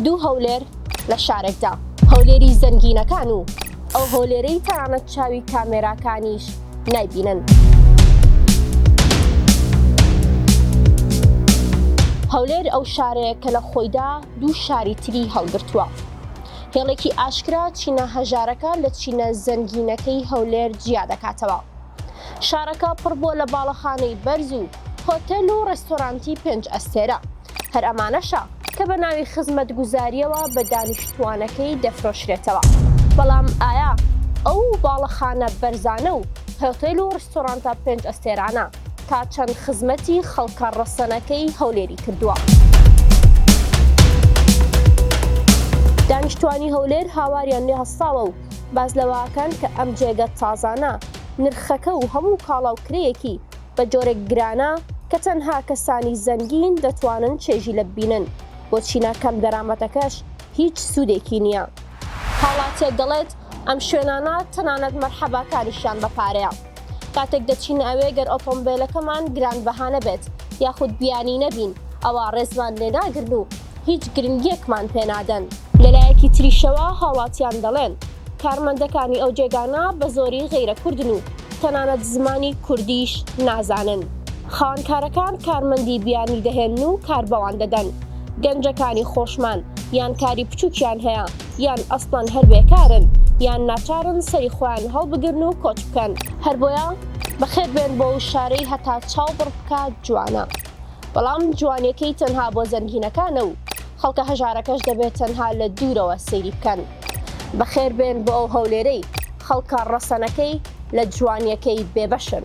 دوو هەولێر لە شارێکدا، هەولێری زەنگینەکان و ئەو هەولێرەی تەنانەت چاوی کامێراکانیش نایبینن. هەولێر ئەو شارەیە کە لە خۆیدا دوو شاری تری هەڵگرتووە. هێڵێکی ئاشکرا چینە هەژارەکان لە چینە زەنگینەکەی هەولێر جیا دەکاتەوە. شارەکە پڕ بووە لە باڵەخانەی بەرز و هۆتێل و ڕێستۆرانتی پێنج ئەستێرە، هەر ئەمانەشە کە بە ناوی خزمەتگوزارییەوە بە دانیشتووانەکەی دەفرۆشرێتەوە، بەڵام ئایا ئەو باڵەخانە بەرزانە و هۆتێل و ڕێستۆرانتە پێنج ئەستێرانە تا چەند خزمەتی خەڵکە ڕەسەنەکەی هەولێری کردووە؟ دانیشتووانی هەولێر هاواریان لێ هەستاوە و باس لەوەکەن کە ئەم جێگە تازانە نرخەکە و هەموو کاڵا و کرێیەکی بە جۆرێک گرانە کە تەنها کەسانی زەنگین دەتوانن چێژی لە ببینن، بۆ چینە کەم دەرامەتەکەش هیچ سوودێکی نییە. هاوڵاتییەک دەڵێت، ئەم شوێنانە تەنانەت مەرحەباکانیشیان بە پارەیە. کاتێک دەچینە ئەوێ گەر ئۆتۆمبێلەکەمان گرانبەها نەبێت یاخود بیانی نەبین ئەوا ڕێزمان لێ ناگرن و هیچ گرنگییەکمان پێ نادەن. لە لایەکی تریشەوە هاوڵاتیان دەڵێن، کارمەندەکانی ئەو جێگانە بە زۆری غەیرە کوردن و تەنانەت زمانی کوردیش نازانن. خاوەنکارەکان کارمەندی بیانی دەهێنن و کار بەوان دەدەن. گەنجەکانی خۆشمان یان کاری بچووکیان هەیە. یان ئەسڵەن هەر بێکارن یان ناچارن سەری خۆیان هەڵبگرن و کۆچ بکەن. هەر بۆیە بەخێر بێن بۆ ئەو شارەی هەتا چاو بڕ بکات جوانە، بەڵام جوانیەکەی تەنها بۆ زەنگینەکانە و خەڵکە هەژارەکەش دەبێت تەنها لە دوورەوە سەیری بکەن. بەخێر بێن بۆ ئەو هەولێرەی خەڵکە ڕەسەنەکەی لە جوانیەکەی بێبەشن.